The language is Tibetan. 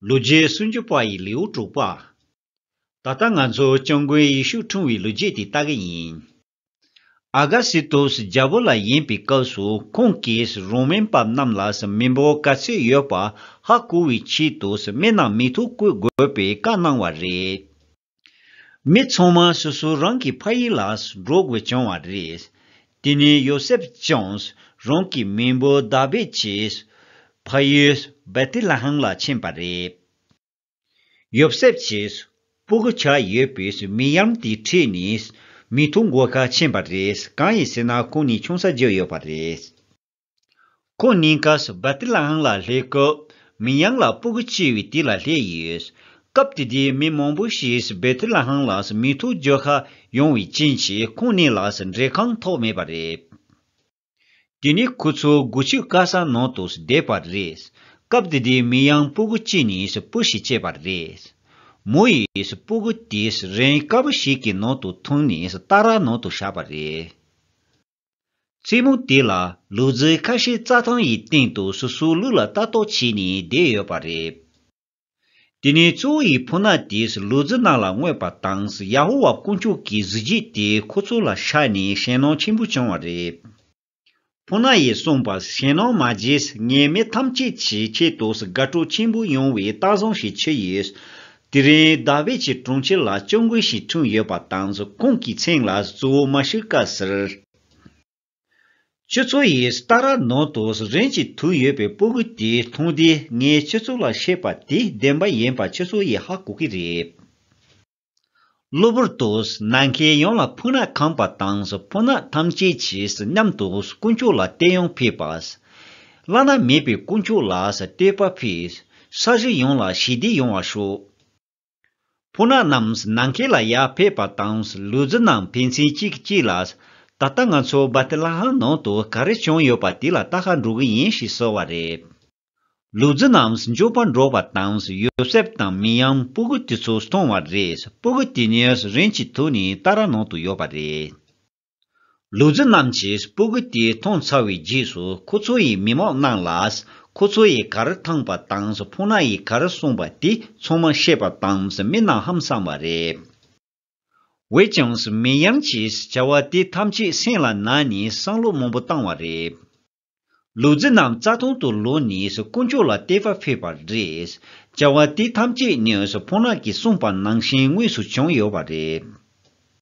ལོ་རྒྱུས་སུམ་ཅུ་པ་ཡི་ལེའུ་དྲུག་པ། ད་ལྟ་ང་ཚོ་སྤྱང་དགོན་ཡིག་ཤུགས་འཁྲུངས་བའི་ལོ་རྒྱུས་དེ་ལྟ་གི་ཡིན། ཨ་ག་སི་ཏོ་སི་རྒྱལ་པོ་ལ་ཡིན་པའི་སྐབས་སུ་ཁོང་གིས་རོ་མན་བབས་རྣམས་ལ་སི་མི་འབོ་ག་ཚོད་ཡོད་པ་ཧ་གོ་བའི་ཆེད་དུ་སི་མི་རྣམས་མི་ཐུག་བཀོད་དགོས་པའི་བཀའ་གནང་བ་རེད། མི་ཚང་མ་སོ་སོ་རང་གི་ཕ་ཡུལ་ལ་འགྲོ་དགོས་བྱུང་བ་རེད། དེ་ནས་ཡོ་སེབ་ཀྱང་རང་གི་མེས་པོ་དཱ་བིད་ཀྱི་ཕ་ཡུལ་བེ་ཐི་ལ་ཧེམ་ལ་ཕྱིན་པ་རེད། ཡོ་སེབ་ཀྱིས་སྤུ་གུ་ཆ་ཡོད་པའི་མི་ཡང་དེའི་ཁྲིད་ནས་མི་ཐུག་འགོ་ཁ་ཕྱིན་པ་རེད་གང་ཡིན་ཟེར་ན་ཁོང་ནི་ཆུང་ས་བརྗོད་ཡོད་པ་རེད། ཁོང་གཉིས་ཀ་སུ་བ་ཏི་ལའང་ལ་ལྷའི་སྐབས། མིན་ཡང་ལ་སྤུ་གུ་ཆེ་བའི་དུས་ལ་ལྷས་ཡོད། སྐབས་དེ་དུས་མི་མང་པོ་ཞིག་སུ་བ་ཏི་ལའང་ལ་སུ་མི་ཐུག་རྒྱུ་ཧ་ཡོང་བའི་རྐྱེན་གྱིས་ཁོང་གཉིས་ལ་སུ་འབྲེལ་གང་ཐོག་མེད་པ་རེད། དེ་ནས་ཁོ་ཚོ་དགུ་ཆུ་དཀར་ས་ནང་དུ་སུ་བསྡད་པ་རེད། སྐབས་དེ་དུས་མི་ཡང་སྤུ་གུ་གཅིག་ནས་སུ་སྤུ་ཞིག་བཅད་པ་རེད། མོ་ཡིས་སུ་སྤུ་གུ་དེ་སུ་རེན་དཀར་པོ་ཞིག་གི་ནང་དུ་འཐུང་ནས་སུ་སྟག་ར་ནང་དུ་བཞག་པ་རེད། བཙུན་མོ་དེ་ལ་ལུས་རྫི་ཁ་ཤས་རྩྭ་ཐང་ཡི་སྟེང་དུ་སོ་སོའི་ལུས་ལ་ལྟ་རྟོག་བྱས་ནས་བསྡད་ཡོད་པ་རེད། དེ་ནས་གཙོ་བོ་ཡི་བུ་ནག་དེས་ལུས་རྫི་ནག་ལ་བསྔོས་པ་དང་ཡ་ཧོ་ཝཱ་དཀོན་མཆོག་གི་གཟི་བརྗིད་དེ་ཁོ་ཚོ་ལ་ཤར་ནས་ཞེན་སྣང་ཆེན་པོ་བྱུང་བ་རེད། བུ་ནག་ཡིས་གསུངས་པ་ཞེན་སྣང་མ་བརྗེད་ངས་མི་ཐམས་ཅད་ཀྱི་ཆེད་དུ་དགའ་སྤྲོ་ཆེན་པོ་ཡོང་བའི་རྟགས་བཟང་ཞིག་ཕྱིར་ཡོད། དེ་རིང་རྡ་བེ་ཆི་གྲོང་ཁྱེར་ལ་སྤྱོད་འགུལ་ཞིག་འཁྲུངས་ཡོད་པ་དང་རྫོགས་ཁོངས་ཀྱི་ཚེང་ལ་གཙོ་བོ་མ་ཤུ་ཀ་སིར། ཁྱོད་ཚོ་ཡིས་སྟ་ར་ནོར་དུ་རིན་གྱིས་དུག་ཡོད་པའི་སྤོ་གུ་དེ་མཐོང་དུས་ངས་ཁྱོད་ཚོ་ལ་བཤད་པ་དེ་བདེན་པ་ཡིན་པ་ཁྱོད་ཚོ་ཡིས་ཧ་གོ་གི་རེད། གློ་བུར་དུ་ནམ་མཁའི་ཡང་ལ་ཕུག་ནག་ཁང་པ་དང་ཕོ་ནག་ཐམས་ཅད་ཀྱིས་མཉམ་དུ་དཀོན་མཆོག་ལ་བསྟོད་དབྱངས་ཕེབས་པ། བླ་ན་མེད་པའི་དཀོན་མཆོག་ལ་བསྟོད་པ་ཕེབས། ས་གཞི་ཡོངས་ལ་ཞི་བདེ་ཡོང་བར་ཤོག། ཕོ་ནག་རྣམས་ནམ་མཁའི་ལ་ཡར་ཕེབས་པ་དང་ལུས་རྫི་རྣམས་ཕན་ཚུན་གཅིག་གིས་གཅིག་ལ། ད་ལྟ་ང་ཚོ་སྦ་ཏི་ལ་ཧམ་ནང་དུ་ག་རེ་བྱུང་ཡོད་པ་དེ་ལ་བལྟ་ཧ་འགྲོ་གི་ཡིན་ཞེས་གསོལ་བ་རེད། ལུག་རྫི་རྣམས་མགྱོགས་པར་འབྲོག་པ་དང་ཡོ་སེབ་དང་མི་ཡམ་སྤུ་གུ་དེ་ཚོ་སྟོང་བ་རེད་སྤུ་གུ་དེ་ཉིད་རིན་གྱི་དུ་ནི་ཏཱ་ར་ནང་དུ་ཡོད་པ་རེད། ལུག་རྫི་རྣམས་ཀྱིས་སྤུ་གུ་དེ་མཐོང་ཚར་བའི་རྗེས་སུ་ཁོ་ཚོ་ཡི་མི་མང་རྣམས་ལ་ཁོ་ཚོ་ཡི་ག་རེ་འཐངས་པ་དང་ཕུང་ན་ཡི་ག་རེ་གསུངས་པ་དེ་ཚང་མ་ཤེས་པ་དང་མི་རྣམས་ཧམ་བསམ་བ་རེད། འོད་ཀྱང་མི་ཡམ་གྱིས་བྱ་བ་དེ་ཐམས་ཅད་སེམས་ལ་ན་ནས་བསམ་བློ་མང་པོ་བཏང་བ་རེད། ལུག་རྫི་རྣམས་རྩ་སྟོང་དུ་ལོ་ནས་སུ་དཀོན་མཆོག་ལ་བསྟད་པ་ཕེབས་པར་རེད། བྱ་བ་དེ་ཐམས་ཅད་ནས་སུ་ཕོ་ནག་གིས་གསུངས་པ་ནང་བཞིན་དངོས་སུ་བྱུང་ཡོད་པ་རེད།